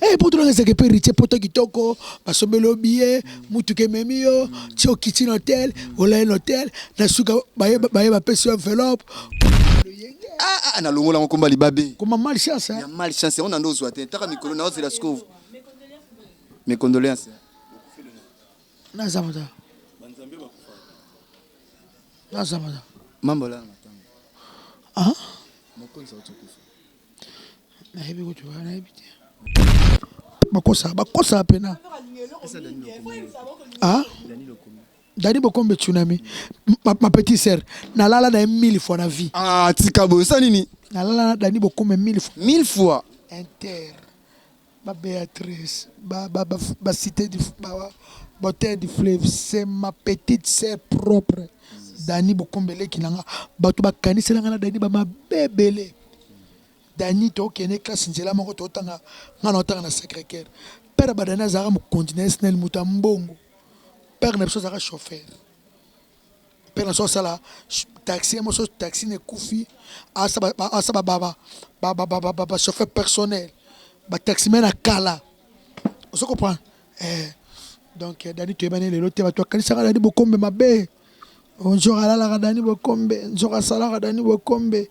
Eh, poto nanga ezalaka epa héritier poto kitoko basombeli yo biye motuka ememi yo ti okiti na hotel olai na hotel na suka baye baye bapesi yo enveloppe Ah, ah, nalongola yango komba libabe koma mal chance ya mal chance yango nando ozwa te taka mikolo na ozela sikoyo mes condoléances naza moza naza moza mambo la ah mokonzi auti kufa bakosa bakosa pena ah? dani bokombe tsunami ma, ma petite sœur nalala na ye mille fois na vie ah, tika boyo sa nini nalala na dani bokombe mille fois mille fois inter Ba Beatrice, ba ba ba cite du ba botee du fleuve c'est ma petite sœur propre Dani Bokombe leki na nga bato bakanisela nga na Dani ba mabe ebele Dani tokende classe nzela moko totanga nga na otanga na Sacré-Cœur père ba Dani azalaka mokonzi na SNEL moto ya mbongo père na biso azalaka chauffeur mpe na so asala taxi ye moso taxi na ekufi asa ba chauffeur personnel ba taxi me na kala ozo comprendre eh, donc eh, dani toyebani lelo te bato bakanisaka dani bokombe mabe nzoka alalaka dani bokombe nzoka asalaka dani bokombe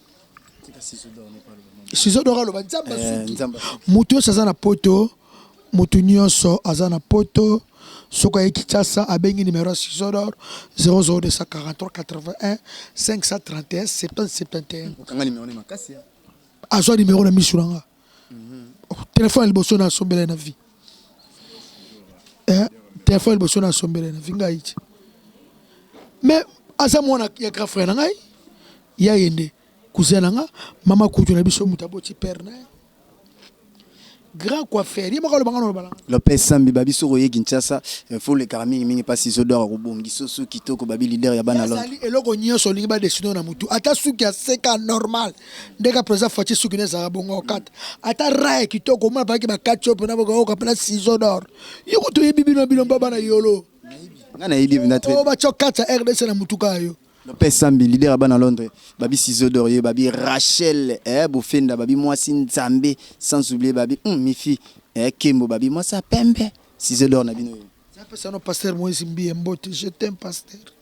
sizo dora aloba nzambe asungi moto nyonso aza na poto moto nyonso aza na poto soki aye kinshasa abengi numero ya sizo dor 0024381 531 771 azwa numero na miso na nga oh, telefone ya liboso nasombela na vie eh, telefone ya liboso nasombela na vie ngai ti mais aza mwana ya grand frère na ngai ya ye nde cousin na nga mama kutu na biso moto aboti père na ye grand coiffeur ye moko aloba nga noloba nanga lopes sambi babi soki oye kinshasa eh, fo olekaka mingimingi mpasi zodwaka kobongi sosu kitoko babi leader ya bana londre azali eloko nyonso olingi badesino na motu ata suki ya seka normal ndenge président Fatshi suki na ezalaka bongo okata ata raye kitoko omona balaki bakati yo mpena bokaoka mpena ciseau d'or yo kutu oyebi bino bino mpo bana yolo nga nayebi ebina tre oyo batya okata rdc na motuka ya yo mpe sambi lider ya bana londres babi ciseau d'or ye babi rachel eh, bofenda babi mwasi nzambe sans oublier babi mm, mifi eh, kembo babi mwasi ya pembe ciseau d'or na bino yo apesa no pasteur moise mbiye mbote je t'aime pasteur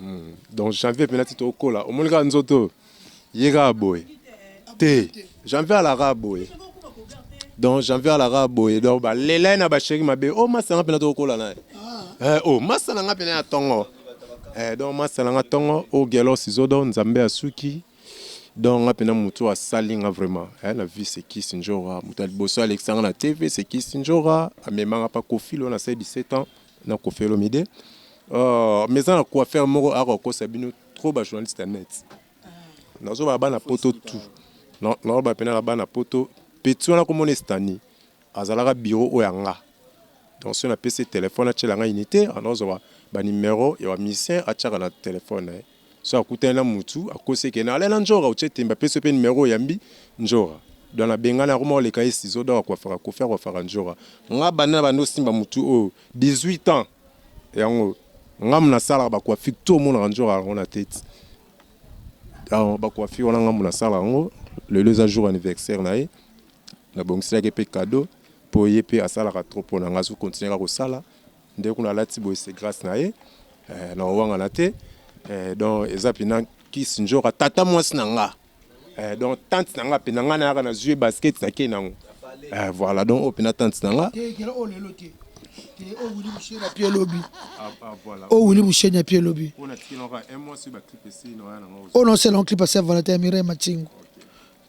Hum donc janvier pena ti tokola omoni kaka nzoto oyo ye kaka boye te janvier alaka boye donc janvier alaka boye donc balela ye na basheri mabe o oh, masa nga pena tokola na ye eh, o oh, masa na nga pena ya tongo eh, donc masa na nga tongo o oh, gelos izodo nzambe asuki donc nga pena motu asali nga vraiment eh, na vie sekis njora moto ya liboso alekisa nga na tv sekis njora amemanga pa kofilo na se 17 ans na koffi olomide oh, mais eza na coiffeur moko ako kosa bino trop ba journaliste ya net nazo ba bana poto tout na na ba pena na bana poto petit wana ko mona stani azalaka bureau oyo anga donc soki na pesi téléphone atiela nga unité anazo ba ba numero ya ba musicien atiaka na téléphone na ye soki akutani na mutu akosi eke na ale na ndjora otie tembe apesi yo pe numero oyambi ndjora donc na bengani akoma koleka ye ciseaux donc akuafaka koffi akuafaka ndjora nga banda na banda osimba mutu oyo 18 ans yango nga mutu nasalaka ba coiffure tout omonaka ndjora yango na tete donc ba coiffure wana nga mutu nasalaka yango lelo eza jour anniversaire na ye na bongiselaki ye pe cadeau po ye pe asalaka trop pona nga azo continuer kaka kosala Nde kuna alati boye c'est grâce na ye eh, na owangana te eh, donc eza pina kisi njora tata mwasi na nga eh, donc tante na nga mpe na nga nayaka na zue basket na kei nango eh, voilà donc oyo mpena tante na nga owili mushenya pie lobi owili mushenya pie lobi oyo naosela clip ase valentin mirai matingo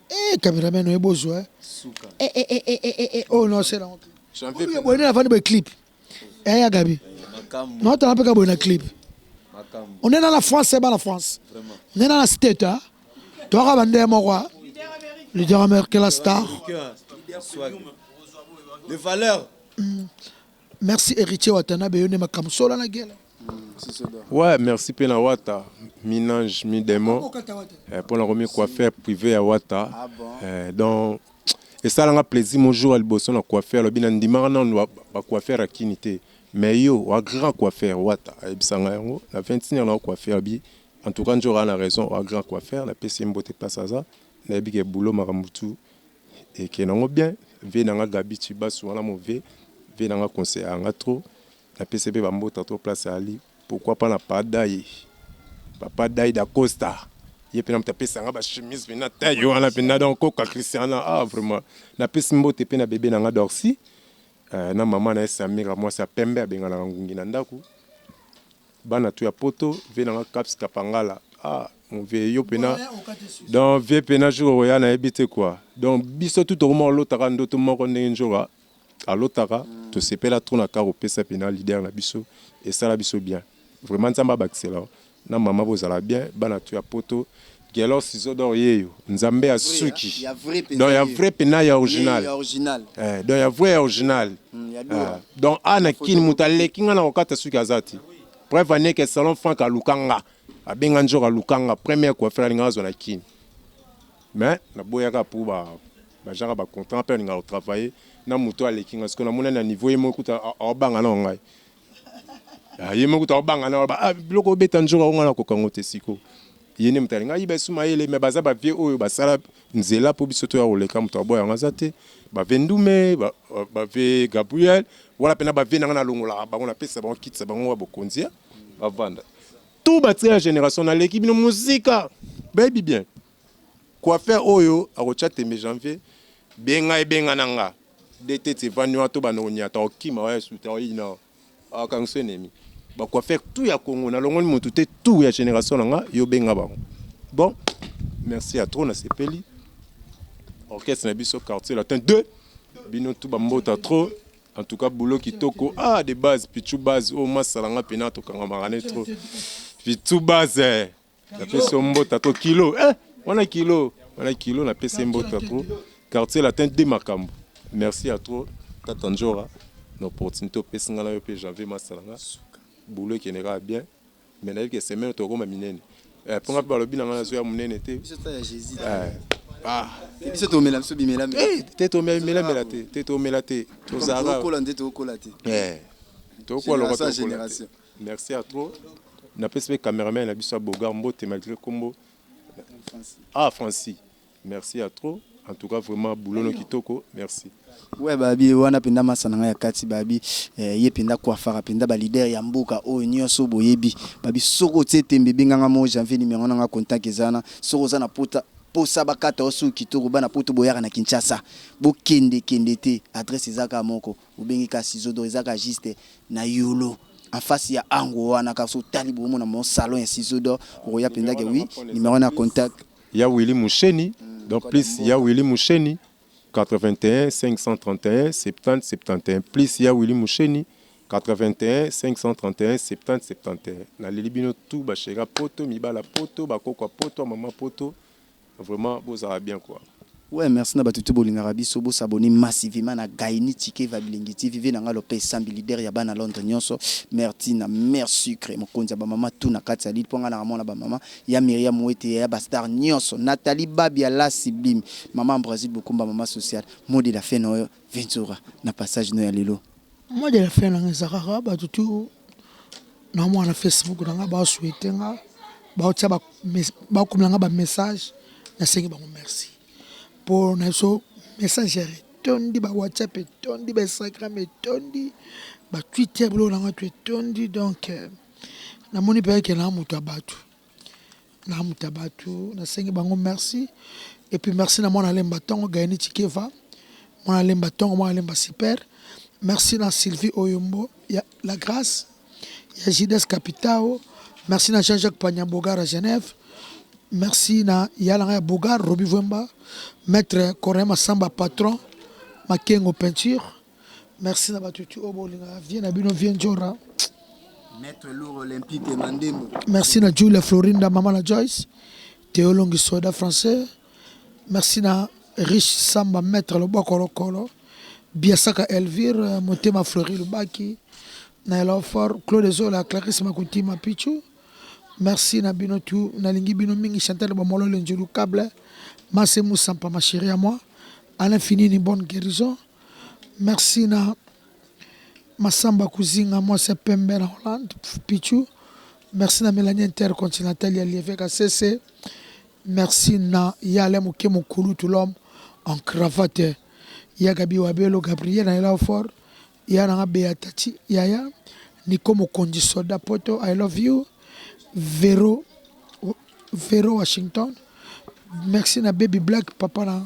Eh, cameraman oye bozo eh. Suka. Eh eh eh eh eh eh, eh. Oh non, c'est la honte. Chanvier Oyo boye na fani boye clip. Eh ya Gabi. Makambo. Non, tala peka boye na clip. Makambo. On est dans la France, c'est pas la France. Vraiment. On est dans la state hein. Toi ka bande moko. hein. Leader américain la star. Cœur. Swag. Les valeurs. Merci Heritier Watanabe yo nde makambo sola na gela. Ouais, merci pe na Wata, minange, mi demon. Eh, pona ko mi coiffer privé ya Wata. Ah bon? Eh, donc esalanga plaisir mon jour aliboso na coiffer alobi na ndimaka nanu ba, ba coiffer ya kini te mais yo wa grand coiffer wata ayebisanga yango na 21 heure na coiffer abi en tout cas nzora na raison wa grand coiffer napesi ye mbote place aza nayebi ke boulot makambo tu Eke na ngo bien vie na nga gaby tshibasu wana move vie na nga conseil ya nga trop na pese pe ba mbota trop place ali pourquoi pas na padaye papa daye da costa ye pe na mutu apesa nga ba chemise pe na taille wana pe na donc koka christiana ah vraiment na pesi mbote pe na bebe na nga dorsi euh, na maman na ye samira mwasi ya pembe abenganaka ngungi na ndaku Bana tout ya poto vie na nga caps kapangala ah mon vieux yo pena donc vieux pena jour okoya na yebi te quoi donc biso tout tokoma kolota kaka ndoto moko ndenge njoka alotaka tosepela trop na kaka kopesa pena leader na biso esala biso bien vraiment nzambe abakisela yo na maman bozala bien bana tout ya poto Gelos zodor yeyo nzambe ya suki donc ya vrai pena ya original eh donc ya vrai ya original ah donc a na kin mutu aleki nga na kokata suki aza te preuve en est que salon frank aluka nga abenga nzoro aluka nga première coiffure alinga azwa na kin mais na boyaka pour ba bajaka ba contrat pe alinga ko travailler na mutu aleki nga siko na mona na niveau ye moko kuta aobanga na ngai Ah, ye moko tokobanga na ba ah, biloko obeta nzoka ngo na kokango te siko ye nde moto alinga ayiba esu mayele me baza bavie oyo basala nzela mpo biso toya koleka moto aboya yango aza te bave ndume bave gabriel wana mpena bavie nanga nalongolaka bango napesa bango kitisa bango ya bokonzi bavanda tout batia ya génération naleki bino mosika bayebi bien Coiffeur oyo akotia tembe janvier benga ye benga na nga de tete evandi wana to banda konyata okima oya suta oyina akangisa enemi ba coiffeur tout ya Congo na longoli mutu te tout ya generation na nga yo benga bango bon merci ya trop na sepeli orchestre na biso quartier latin 2 bino tout ba mbota trop en tout cas boulot kitoko ah de base pichu base oyo oh, masala nga pena tokangamaka ne trop pichu base eh. napesi yo mbota to kilo eh, wana kilo wana kilo napesi ye mbota trop quartier latin de makambo merci ya trop tata njora na opportunité opesi ngai na yo mpe janvier masala nga boulot ekende kaka bien mais nayebi ke semaine tokoma minene eh, mpo ngai mpe balobi na ngai nazoya monene te eh. ah. biso tomela biso bimela eh, te tomela bimela mela te te tomela te tozalaka tokola nde tokola te eh tokola lokota génération Merci à trop na pesi pe cameraman na biso ya Beaugard mbote malgré kombo ah Francis merci à trop en tout cas vraiment boulot no kitoko merci. Ouais babi wana penda masa na ngai ya kati babi eh, ye penda kuafaka penda ba leader ya mboka oyo oh, nionso boyebi babi soko otie tembe benga nga mo janvier numéro na nga contact ezana soko oza na pota posa bakata osu kitoko bana poto boyaka na Kinshasa bokende kende te adresse ezaka moko Obengi kasi zodo eza ka juste na yolo en face ya ango wana kasi otali bo mona mo salon ya sizodo okoya penza ke oui numero wana ya contact. Ya Willy Musheni donc plus ya Willy Musheni 815317071 plus ya Willy Musheni 815317071 naleli bino tout ba cheri ya poto mibali ya poto ba koko ya poto ba mama ya poto Vraiment bozala bien quoi. Ouais merci na batu tout bolingaka biso bo s'abonner massivement na Gaini Tshikeva Bilengi TV vie na nga Lopez Sambi leader ya bana Londres nionso mère Tina mère sucre mokonzi ya ba maman tout na kati ya lille po nga naka mwana ba maman ya Miriam Wete yaya ba star nionso Nathalie Babia la sublime maman Ambrasile Bokumba maman sociale mot de la fin na yo Ventura na passage no ya lelo. Moi de la fin nanga eza kaka bato tu na mwa na Facebook na nga ba souhaite nga ba tia ba komela nga ba message na sengi bango merci po na biso messager etondi ba WhatsApp etondi ba Instagram etondi ba Twitter biloko na nga to etondi donc euh, namoni mpe eke na moto ya bato Namuta batu nasengi bango merci et puis merci na mwana lemba tongo Gaëni Tshikeva mwana lemba tongo mwana lemba super merci na Sylvie Oyombo ya la grâce ya JDS Capitao merci na Jean-Jacques Panya Bogar à Genève merci na yalanga ya Bogar Roby Vwemba maître Corin Masamba patron Makengo peinture Merci na batu tu oyo bolingaka vie na bino vie njora. Maître Lourd Olympique Mandembo. Merci na Julia Florinda mama na Joyce. Théo Longi soda français. Merci na Rich Samba Maître Loboko Lokolo. Biasaka Elvire Motema Fleury Lubaki. Na Elofort Claude Zola Clarisse Makutima Pichu. Merci na bino tu nalingi bino mingi Chantal Bomolo Lenjulu Cable. Masse Moussampa ma chérie à moi. À l'infini une bonne guérison. Merci na Massamba Kuzinga mwasi ya pembe na Hollande Pichu. Merci na Melanie Intercontinental ya Lieve Kasese. Merci na Yale Muke Mukulutu l'homme en cravate ya Gabi Wabelo Gabriel na Elau Fort ya nanga Beatati yaya Niko Mokonzi Soda Poto I love you Vero Vero Washington. Merci na Baby Black papa na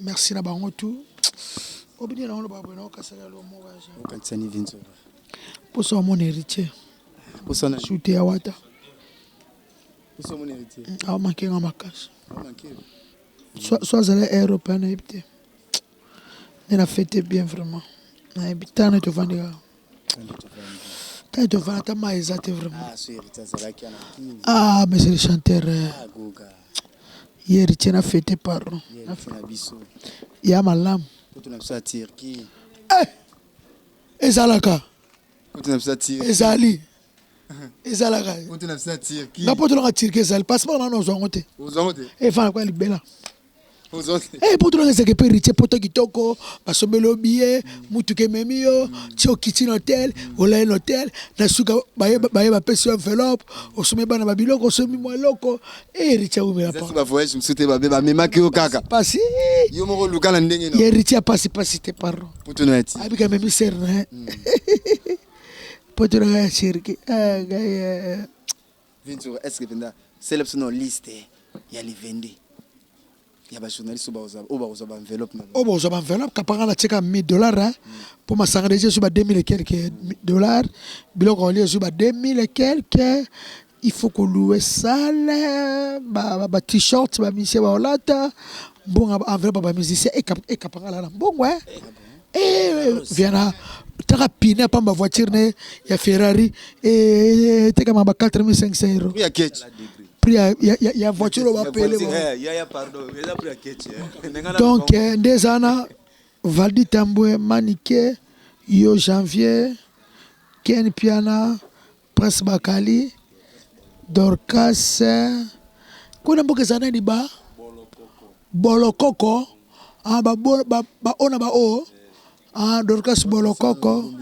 Merci na bango tout. Obini na ngolo babwe na okasa ya lo mo baje. Okatisa ni vinzo. Poso wa mon héritier. Poso na shute ya wata. Poso mon héritier. Mm, Awa manke nga makasi. Awa manke. Soit soit zala européen na yebite. Nena fête bien vraiment. Na yebita na to vandika. Taille de vin, ata mayi eza te vraiment. Ah, ce héritier azalaki ana kin. Ah, mais c'est le chanteur. euh, Ah, goga. Ye héritier na fete pardon. Ye héritier na biso. Ya malamu. Kutu na biso ya Turquie. Ezalaka, Kutu na biso ya Turquie. ezali. Ezalaka. Kutu na biso ya Turquie. Nga poto nanga Turquie ezali. Passeport nanu ozwa yango te. Ozango te. Efana kwa libela. Eh, poto nanga ezalaka epa héritier poto kitoko basombeli yo biye motuka ememi yo ti okiti na hotel olali na hotel na suka baye baye bapesi yo enveloppe osomi bana ba biloko osomi mwa eloko eh, héritier awumela pa bavoyage mosusu te babe bamemaki yo kaka pasi yo moko oluka na ndenge ya héritier ya pasi pasi te pardon poto na yati abika memi ser na ye poto nanga ya sherki ah, ngai, eh, Vinci est ce que penza sele biso na liste ya livende ya ba journaliste oyo bakozwa ba enveloppe na oyo bakozwa ba enveloppe kapanga na tieka 1000 dollars hein pour masanga deja ezwi ba 2000 et quelques dollars biloko olie ezwi ba 2000 et quelques il faut ko louer salle ba ba, ba t-shirt ba misie ba olata mbonga ba enveloppe ba musicien ekapanga la na mbongo hein eh, ah Eh, viana taka pine ya pamba voiture na ye ya ferrari eh, etekama ba 4500 euro ya keche prix ya- ya- ya- ya voiture oyo bapele bango. yaya pardon eza pri ya keche donc eh, nde eza na valdi tambwe manike yo janvier ken piana Prince Bakali, Dorcas kuna mboka eza nani ba Bolokoko ah, ba, ba, ba ona ba o ah, Dorcas Bolokoko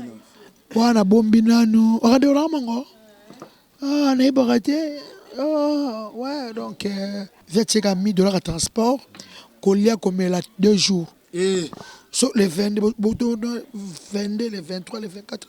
wana bombi nanu wakati wana mango ah, nayebaka te ah, ouais donc euh, via tieka 1000 dollars ya transport kolia komela deux jours eh. so le 22 22 le 23 le 24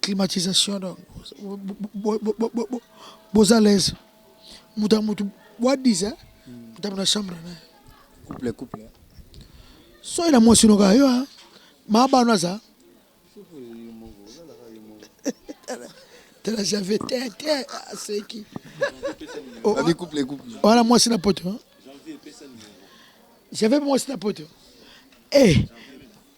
climatisation donc boza l'aise moto ya moto boadiza motambo na chambre na couple couple soki na mwasi noka yo maabano aza tala jave te te aseki wana mwasi na poto jave mwasi na poto eh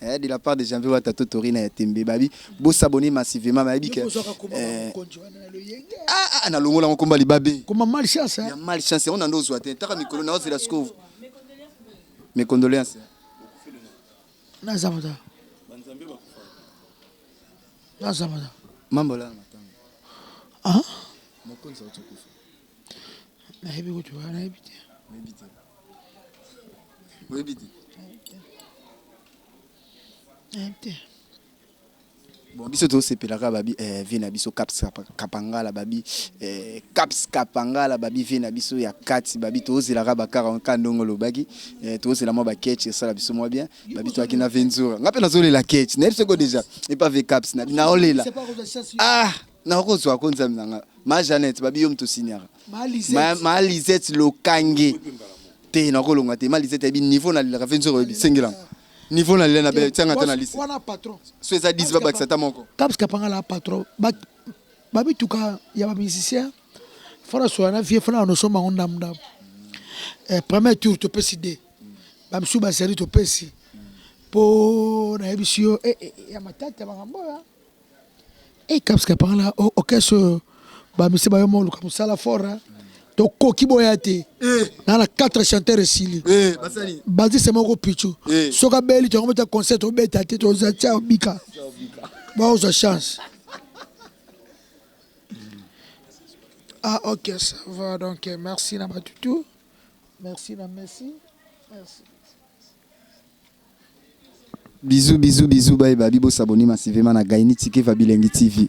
Eh de la part de Janvier Wata to Torina ya Tembe babi bo s'abonner massivement bayebi que eh, ah ah na longola ngo komba libabe koma mal chance ya mal chance on ando zwa te taka mikolo na ozela sikovu mes condoléances na zamata na zamata mambo la matanga ah mokonzi wa tukufu nayebi kutu wana nayebi te oyebi te oyebi te nayebi te bon biso tosepelaka babi eh, vie na biso caps kapangala babi eh, caps kapangala babi vie na biso ya kati babi tozelaka bakara ka ndongo olobaki eh, tozela mwa baketch esala biso mwa bien babi toyaki na venzura ngai mpe nazolela ketch nayebi soko deja epa ve caps naolela ah Na ko zwa ko nzambe na nga. Ma Jeannette babi yo moto signaka. Ma Lisette. Ma Lisette lokange. Te na ko longa te. Ma Lisette ayebi niveau na lilaka fe nzoro yebi sengela. Niveau na lila na bela tianga ta na liste. Wana patron. So eza 10 ba bakisa ta moko. Kaps kapanga la patron. Ba ba bituka ya ba musiciens. Fana soya na vie fana no soma onda mda. Eh, premier tour to pesi de. Ba msu ba zali to pesi. Po na yebisi yo eh, eh, ya matata bangambo ya. Hey, Kapska pangala orchestre oyo ba misi bayo moluka musala fort hein. tokoki boya te Eh. na na 4 chanteur esili Eh, basali. bazise moko pichu Eh. soki abeli tongo beta concert tobeta te toza tia obika baozwa chance ah ok ça va donc eh, merci na batutu merci na messi merci Bisous bisous bisous baye babi bo s'abonner massivement na Gaynitsi Keva Bilengi TV.